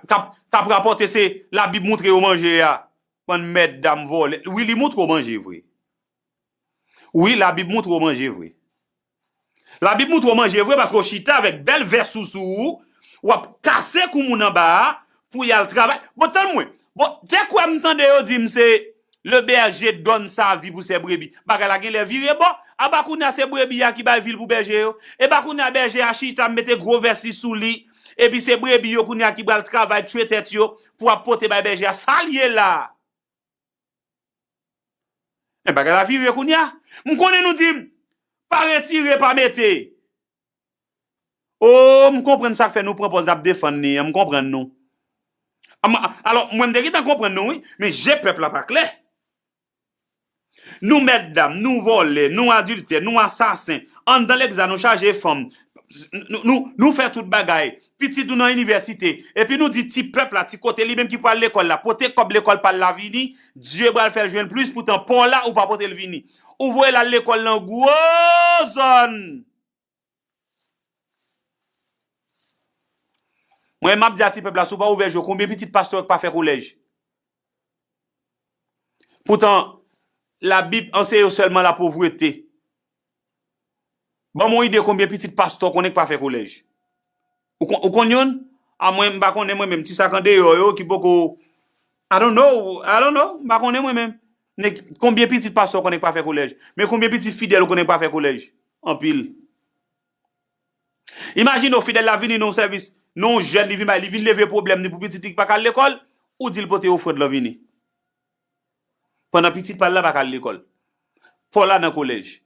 kap rapòte se la bib moutre yo manje a bann mètdam vòlè wi li moutre w manje vre wi la bib moutre w manje vre la bib moutre w manje vre paske w chita avèk bèl vès sou sou ou wap kase kou moun anba a pou yal travay bon tann mwen bon te kwè m tande yo di m se Le berger donne sa vie pou ses brebis. Bagay la genlè vire bò. Aba kounye a se brebi a ki bay vil pou bèje yo. Epa kounye a bèje a chita mete gwo vès li sou li. Epi se brebi yo kounye a ki pral travay tchwe tèt yo pou ap pote bay bèje a. Sa l ye la a? Men bagay la vire kounye a. M konnen nou di m pa retire pa mete. Oh m konprann sak fè nou pran pòz nap defann li an m konprann nou alò mwen m te gentan konprann nou wi men je pèp la pa klè nou mèt dam nou vòlè nou adiltè nou asasen anndan legzan nou chaje fanm nou fè tout bagay pitit ou nan inivèsite epi nou di ti pèp la ti kote li menm ki pral lekòl la pote kòb lekòl pal la vini Dye pral fèl jwenn plis poutan paw la ou pa potel vini ou voyel al lekòl nan gwo zòn mwen map di a ti pèp la si w pa ouvè je w konbyen pitit pastè yo k pa fè kolèj poutan la bib anseye yo sèlman la povrete. Banm yon ide konbyen pitit pastè w konnen k pa fè kolèj? Ou konn youn? A mwen m pa konnen mwen menm ti sak andeyò yo ki poko I don't know, I don't know, m pa konnen mwen menm. Men konbyen pitit pastè w konnen k pa fè kolèj? Men konbyen pitit fidèl ou konnen k pa fè kolèj? Anpil. Imajine w fidèl la vini nan yon sèvis, nan yon jèn li vin bay, li vin leve pwoblèm li pou pitit li ki pa ka al lekòl, ou di l pote ofrand lan vini. pandan pitit pa l la pa ka al lekòl. Paula nan kolèj.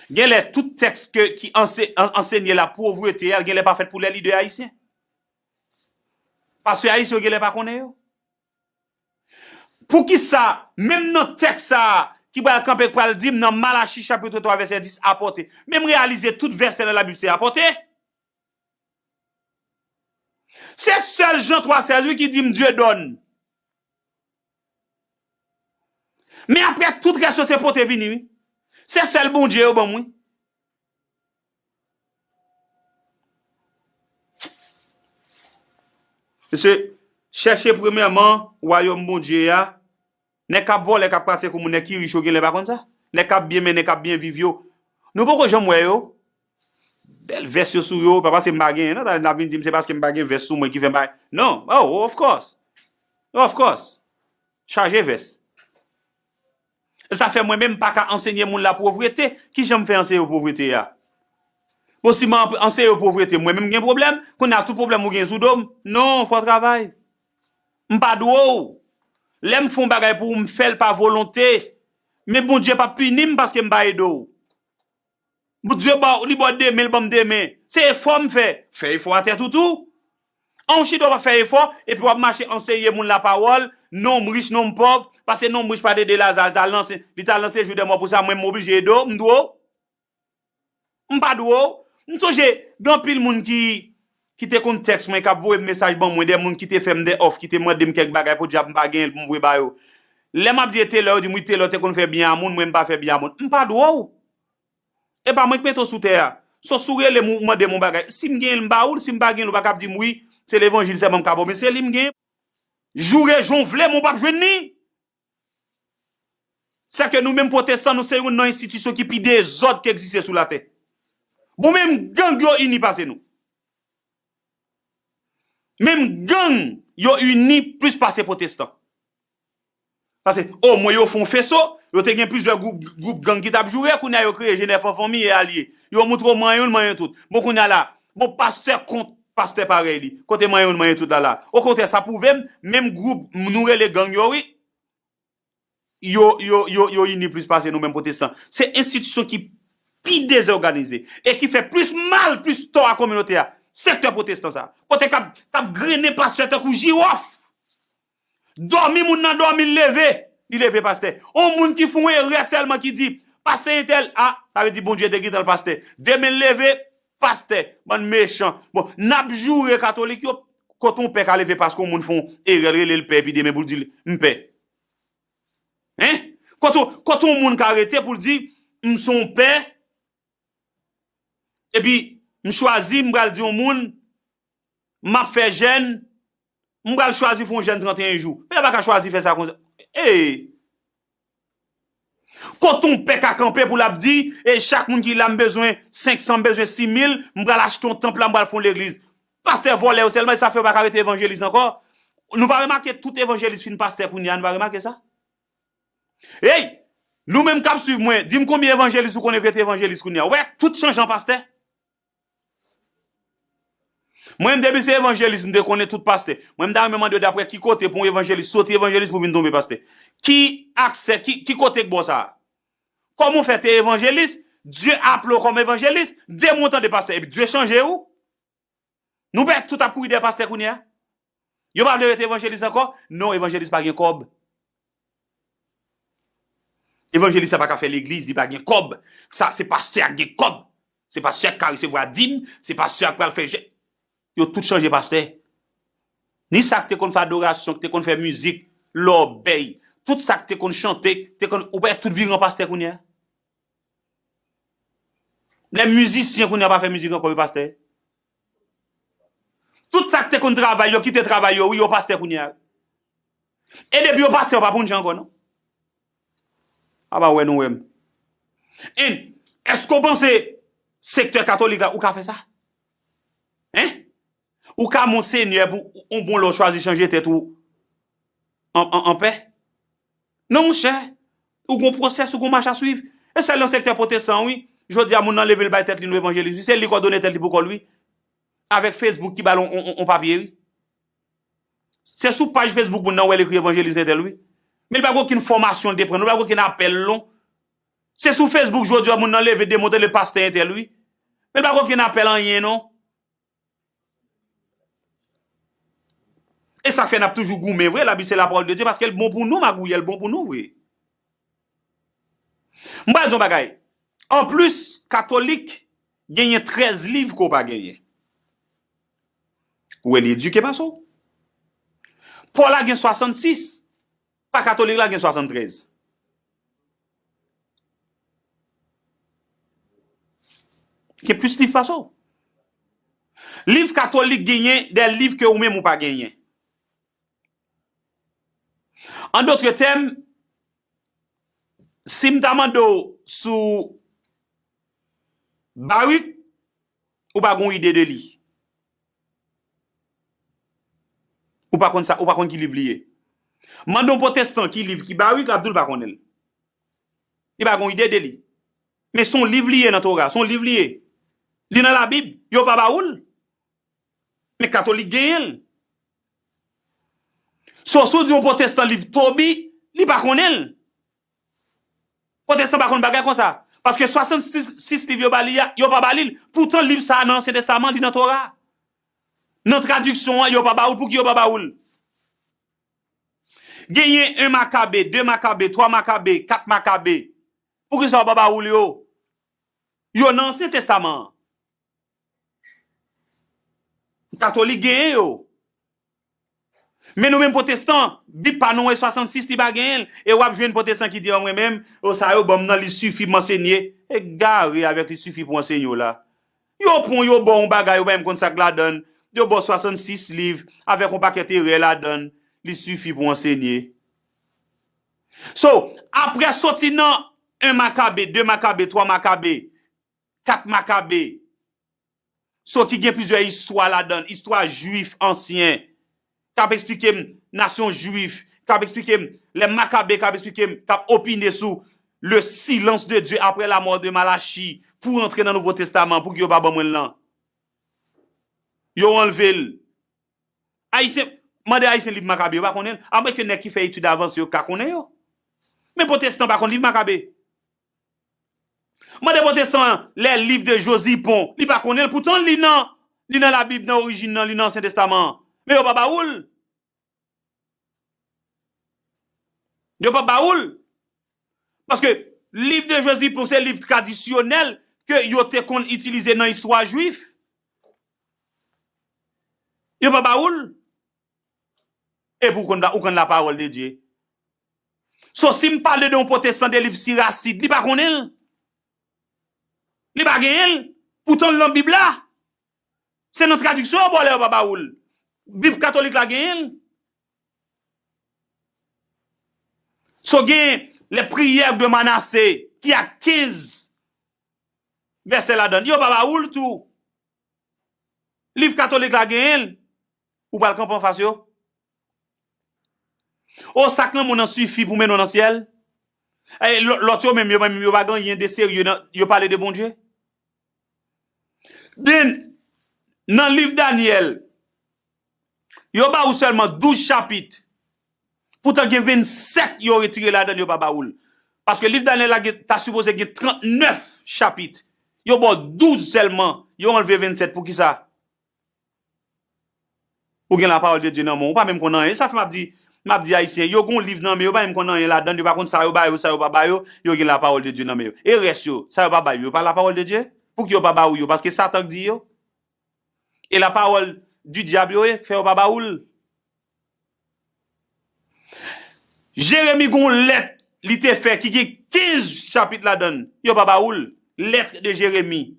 Gen lè tout tèks ke ki ansenye lapovrete a gen lè pa fèt pou lè lidè ayisyen. Pastè ayisyen yo gen lè pa konnen yo. Poukisa menm nan tèks sa a ki pral kanpe k pral di m nan Malachi chapitre 3 vèsè 10 apòte men m reyalize tout vèsè nan labib se apòte. Se sèl Jan 3 16 wi ki di m Dieudonne. Men aprè tout rès yo se pote vini wi. Se sèl Bondye yo banm wi. Mesye, chèche premyèman wayòm Bondye a, nèg kap vòlè, kap kraze kou moun, nèg ki rich yo genlè pa konn sa? Nèg kap byen mennen, kap byen viv yo, nou poko janm wè yo? Bèl vès yo sou yo, pa paske m pa genyen non, talè n ap vin di m se paske m pa gen vès sou mwen ki fè m pa, non, oh of course, of course, chaje vès. Sa fè mwen menm m pa ka ansenye moun la povrete, ki jan m fè anseye yo povrete a? Bon si m ap anseye yo povrete mwen menm m gen pwoblèm, kounye a tout pwoblèm ou gen sou do m, non, fò w travay. M pa dwe w. Lè m fè yon bagay pou ou m fè l pa volonte, men Bondye p ap pini m paske m pa ede w. Bndye ba w li ba w demen li banm demen se efò m fè fè efò a tèt ou tou an w chita w pa fè efò epi wap mache anseye moun la pawòl non m rich non m pòv pase non m rich pat ede Laza l ta al nan sen li ta al nan sejou dèmò pou sa mwen m oblije ede w m dwe w m pa dwe w m sonje gen anpil moun ki ki te konn tèks mwen, k ap voye m mesaj ban mwen, dè moun ki te fè m dè òf, ki te mande m kèk bagay, podyab m pa genyen l pou m voye ba yo. Lè m ap di e Telor, yo di m wi Telor te konn fè byen a moun, mwen m pa fè byen a moun. M pa dwe w! E pa mwen k mete w sou tè a. So si w rele m ou mande m yon bagay, si m genyen l m ba ou l, si m pa genyen l ou pa ka ap di m wi, se levanjil sèlman m ka ba w men se li m genyen. Joure jan w vle men w p ap jwenn li! Sa ke nou menm pwotestan nou se youn nan enstitisyon ki pi dezòd ki egziste sou latè. Bon menm gang yo ini pase nou. Menm gang yo ini plis pase pwotestan. Pase o mwen yo fon feso, yo te gen plizyè gwoup gang ki tap joure, kounye a yo kreye Jenèf an Fanmi e Alye. Yo moutre w man youn, man youn tout. Bon kounye a la, bon pastè kont. Pastè parèy li. Kote manyen youn manyen tout la la. Okontrè sa pwouvem menm gwoup nou rele gang yo wi yo yo yo yo ini plis pase nou menm pwotestan. Se enstitisyon ki pi dezòganize e ki fè plis mal plis tò a kominote a sektè pwotestan sa. Kote kap kap grennen pastè tankou jiròf. Dòmi moun nan dòmi l leve li leve pastè on moun ki fon erè sèlman ki di pastè entèl ah sa vle di Bondye te gentan l pastè demen l leve pastè bann mechan bon nap joure katolik yo kot on pè ka leve paske on moun fon erè l rele l pè epi demen pou l di l m pè hein kot on kot on moun ka rete pou l di m son pè epi m chwazi m pral di on moun map fè jèn M pral chwazi fon jèn 31 jou. Pè a pa ka chwazi fè sa konsa. Eee. Kot on pè ka kanpe pou l ap di, e chak moun ki la m bezwen 500, m bezwen 6000, m pral achte on tanp la, m pral fon legliz. Pastè vòlè yo sèlman, e sa fè yo pa ka rete evanjelis ankò. Nou pa remake tout evanjelis fin pastè kounye a, nou pa remake sa? Ey! Nou menm k ap swiv mwen, di m konbyen evanjelis ou konnen ki rete evanjelis kounye a. Ou wè tout chanjan pastè? Mwen menm depi se evanjelis m te konnen tout pastè. Mwen m ta renmen mande yo daprè ki kote pou yon evanjelis soti evanjelis pou vin tonbe pastè. Ki aksè, ki kote k bò sa a? Kòman w fè te evanjelis, Dye aple w kòm evanjelis, de mwa w tande pastè epi Dye chanje ou? Nou pè tout ap kouri dèyè pastè kounye a? Yo pa vle rete evanjelis ankò? Non evanjelis pa gen kòb. Evanjelis sa pa ka fè legliz, li pa gen kòb. Sa se pastè ak gen kòb. Se pastè ak ka resevwa dim, se pastè ak pral fè jè. Yo tout chanje pastè. Ni sa k te konn fè adorasyon, k te konn fè mizik, lòbèy, tout sa k te konn chante, k te konn, ou pa wè tout vire an pastè kounye a? Lè mizisyen kounye a pa fè mizik ankò yo pastè? Tout sak te konn travay yo kite travay yo wi yo pastè kounye a e depi yo pastè yo pa bondje ankò non aba wè nou wèm en eske ou panse sektè katolik la ou ka fè sa en ou ka monsenyè pou ou bon lè ou chwazi chanje tèt ou an pè Non monchè, ou gon pwosès, ou gon mach a swiv. E sèl nan sektè pwotestan wi, jodi a moun nan leve l bay tèt li nou evanjelis wi, se li k òdone tèt li pou kò l wi. Avèk Facebook ki ba l on papye wi. Se sou paj Facebook moun nan wè l ekri evanjelis entèl wi. Men li pa gen okenn fòmasyon li te pran non, li pa gen okenn apèl non. Se sou Facebook jodi a moun nan leve demontre l e pastè entèl wi. Men li pa gen okenn apèl anyen non. E sa k fè n ap toujou goumen vre, labib se lapawòl de Dye paske l bon pou nou magouyè, l bon pou nou vre. M pral di w yon bagay, anplis katolik genyen 13 liv ke w pa genyen. Ou wè li edike pase w. Paw la gen 66. Pa katolik la gen 73. Gen plis liv pase w. Liv katolik genyen de liv ke ou menm ou pa genyen. An dotre tèm, si m ta mande w sou Baruc, ou pa gen yon ide de li. Ou pa konn sa, ou pa konn ki liv li ye. Mande yon potestan ki liv ki Baruc, l ap di w l pa konnen l. Li pa gen yon ide de li. Men se yon liv li ye nan Tora, se yon liv li ye. Li nan Labib, yo pa ba ou l. Men katolik genyen l. So, si w di yon potestan liv Tobit, li pa konnen l. Pwotestan pa konn bagay konsa. Paske 66 liv yo ba li a, yo pa ba li l. Poutan liv sa a nan Ansyen Testaman, li nan Tora a. Nan tradiksyon an, yo pa ba ou l. Pouki yo pa ba ou l? Genyen 1 Makabe, 2 Makabe, 3 Makabe, 4 Makabe. Poukisa yo pa ba ou l yo? Yo nan Ansyen Testaman an. Katolik genyen yo. Men nou menm potestan, bib pa nou e 66 li pa genyen l. E wap jwenn potestan ki di an mwen menm, o sa yo banm nan li sifi pou m ansenye. Egare avèk li sifi pou ansenye w la. Yo pran w yo ba w yon bagay ou pa menm konn sa k ladan l. Yo ba w 66 liv avèk yon pakèt erè ladan l. Li sifi pou w ansenye. So, aprè soti nan 1 Makabe, 2 Makabe, 3 Makabe. Kat Makabe, so ki gen plizyè istwa ladan l, istwa Juif ansyen k ap esplike m nasyon Juif, k ap esplike m lè Makabe, k ap esplike m, k ap opine sou le silans de Dye aprè lamò de Malachi pou rantre nan Nouvo Testaman. Pouki yo pa ban mwen l nan? Yo anlve l. Ayisyen, mande Ayisyen liv Makabe, yo pa konnen l. Amwenke nèg ki fè etid avanse yo ka konnen yo. Men Pwotestan pa konn liv Makabe. Mande potestan an lè liv de Josie Pon li pa konnenl poutan li nan li nan la bib nan orijin nan li nan ansyen testaman an men yo pa ba oul yo pa ba oul paske liv de Josie Pon se liv tradisyonèl ke yo te konn itilize nan istwa jwif yo pa ba oul. Epi ou konn ou konn la parole de Dieu. So si m pale de yon potestan de liv Siracide, li pa konnen l? Li pa genyen l? Poutan l lan bib la? Se nan tradiksyon yo ba w la yo pa ba ou l. Bib katolik la genyen l? So gen les prières de Manassé ki ak 15 vèsè ladan l, yo pa ba ou l tou? Liv katolik la genyen l ou pral kanpe anfas yo? O sak lanmou nan sifi pou mennen w nan syèl? E lòt yo menm yo menm yo pa gen anyen de serye nan yo pale de Bondye? Den nan liv Danyèl Yo ba ou sèlman 12 chapit, poutan gen 27 yo retire ladan l yo pa ba ou l. Paske liv Danyèl la gen ta sipoze gen 39 chapit, yo ba w 12 sèlman, yo anlve 27 poukisa? Ou gen lapawòl de Dye nan men w, ou pa menm konn anyen. E sa fè m ap di, m ap di Ayisyen, yo gen yon liv nan men yo, yo pa menm konn anyen ladan l, yo pa konn sa yo ba yo, sa yo pa ba yo, yo gen lapawòl de Dye nan men yo. E rès yo, sa yo pa bay yo, yo pa lapawòl de Dye? Pouki yo pa ba ou yo? Paske Satan k di yo? E la parole du diable yo ye k fè yo pa ba ou l? Jérémie gon lèt li te fè ki gen 15 chapit ladan l yo pa ba ou l, lettre de Jérémie.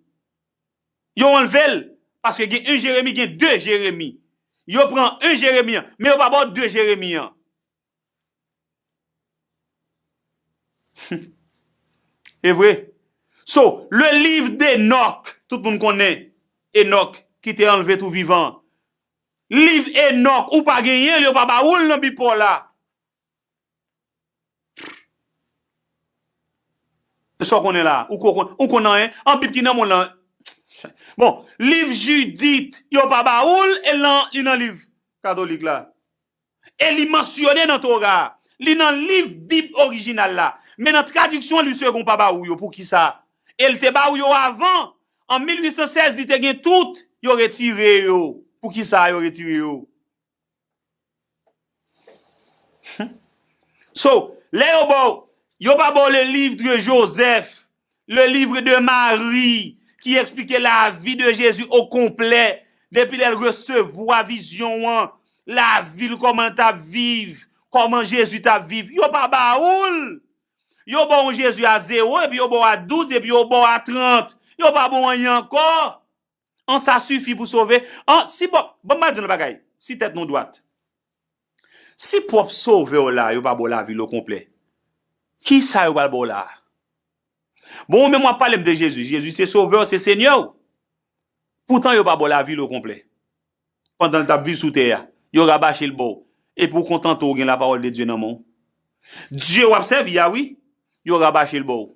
Yo anlve l paske gen 1 Jérémie gen 2 Jérémie. Yo pran 1 Jérémie an men yo pa ba w 2 Jérémie an. Evre So le liv d'Enock tout moun konnen Enock ki te anlve tou vivan Liv Enock ou pa genyen l yo pa ba ou l nan bi paw la Pfff Esaw konnen la ou ko ou konn anyen an bib ki nan mond lan Bon liv Judith yo pa ba ou l e l nan li nan liv katolik la. e li mansyone nan Tora a, li nan liv Bib orijinal la, men nan tradiksyon li segon pa ba ou yo. Poukisa? E l te ba ou yo avan, an 1816 li te gen tout, yo retire yo. Poukisa yo retire yo? Hum. So, lè yo ba w, yo pa ba w le livre de Joseph, Le livre de Marie ki eksplike lavi de Jezi o konplè depi lè l resevwa vizyon an, lavi l kòman l t ap viv, kòman Jezi t ap viv. Yo pa ba ou l! Yo ba w yon Jezi a zewo, epi yo ba w a douz, epi yo ba w a trant. Yo pa ba w anyen ankò. An sa sifi pou sove? An si bòp, ban m ba di nou yon bagay, si tèt nou dwat, si pwòp sove w la yo pa ba w lavi l okonplè, ki sa yo pral ba w la a? Bon ou menm w ap pale m de Jezi, Jezi se sove w, se senyè w, poutan yo pa ba w lavi l okonplè. Pandan l t ap viv sou tè a, yo rabache l ba w, epi ou kontante w ou gen lapawòl de Dye nan men w. Dye w ap sèvi a wi, yo rabache l ba w.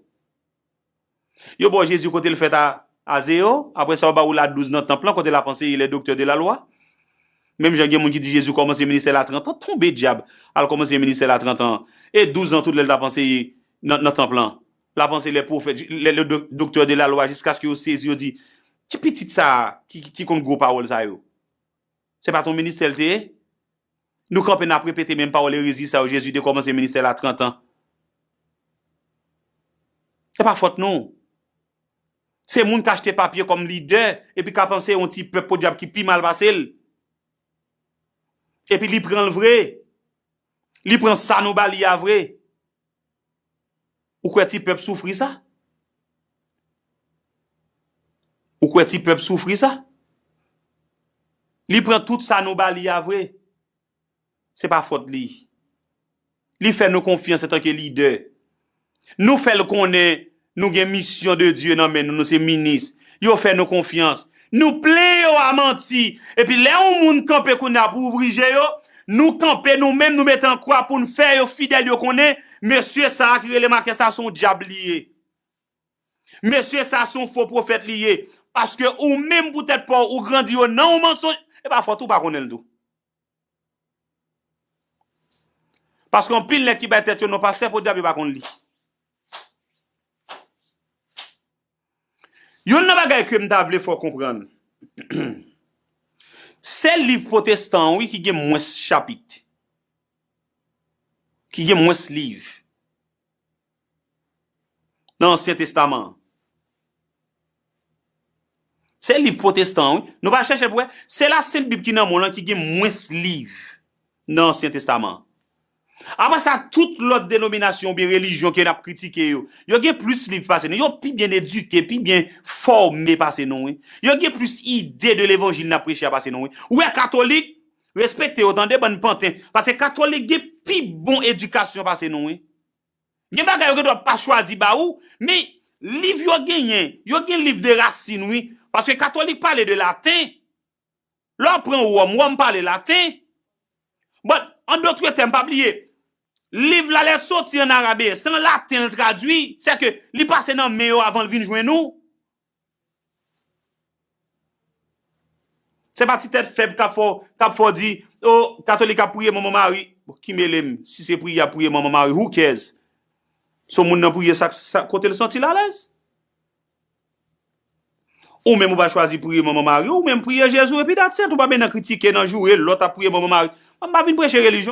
Yo ba w Jezi kote l fèt a Azeo, apre sa yo ba ou la 12 nan tanp lan kote l ap anseye lè doktè de la lwa. Menm jan gen moun ki di Jezi kòmanse ministè l a 30 an, tonbe dyab, al kòmanse ministè l a 30 an, e 12 an tout lè l t ap anseye nan tanp lan. L ap anseye lè pwofèt, lè doktè de la lwa jiskaske yo sezi yo di, Ki pitit sa a ki konn gwo pawòl sa yo? Se pa t yon ministè l te ye? Nou kanpe n ap repete menm pawòl erezi sa yo, Jezi te kòmanse ministè l a trantan. Se pa fòt nou. Se moun k achte papye kòm lidè epi k ap anseye yon ti pèp podyab ki pi mal pase l. Epi li pran l vre. Li pran sa nou ba li a vre. Ou kwè ti pèp soufri sa? Ou kwè ti pèp soufri sa? Li pran tout sa nou ba li a vre. Se pa fòt li. Li fè nou konfyans antanke lidè. Nou fè l konnen Nou gen misyon de Dye nan men nou, nou se minis. Yo fè nou konfyans. Nou plen yo a manti. Epi lè yon moun kanpe kounye a pou ouvri je yo, nou kanpe nou menm nou mete an kwa pou n fè yo fidèl yo konnen mesye sa a ki rele Makè sa a se yon dyab li ye. Mesye sa a se yon fo pwofèt li ye. Paske ou menm pou tèt pa w ou grandi yo nan yon mansonj, e pa fòt ou pa konnen l tou. Paske anpil nèg ki bay tèt yo non pastè podyab yo pa konn li. Youn nan bagay ke m ta vle fè w konprann, se liv pwotestan an wi ki gen mwens chapit, ki gen mwens liv. nan Ansyen Testaman an. Se liv pwotestan an wi. Nou pa chèche pou wè? Se Lasent Bib ki nan monn lan ki gen mwens liv nan Ansyen Testaman an. Apre sa, tout lòt denominasyon oubyen relijyon ke n ap kritike yo, yo gen plis liv pase nou. Yo pi byen edike, pi byen fòme pase nou wi. Yo gen plis ide de levanjil n ap preche a pase nou wi. Ou wè katolik, Respekte yo tande bann panten paske katolik gen pi bon edikasyon pase nou wi. Gen bagay yo gen dwa pa chwazi ba ou men liv yo genyen yo gen liv de rasin wi paske katolik pale de laten lè w pran wòm wòm pale laten bon an dotre tèm pa bliye liv la lè l soti an arabe se an laten l tradui sèke li pase nan men yo avan l vin jwenn nou. Se pa ti tèt fèb kap fè w di oh katolik ap priye manman mari bon ki mele m si se priye yap priye manman mari who cares se w moun nan priye sa kote l santi l alèz ou menm ou va chwazi priye manman mari w ou menm priye jezi w epi that's it ou pa bennen kritike nan joure lòt ap priye manman mari mwen pa vin preche relijyon.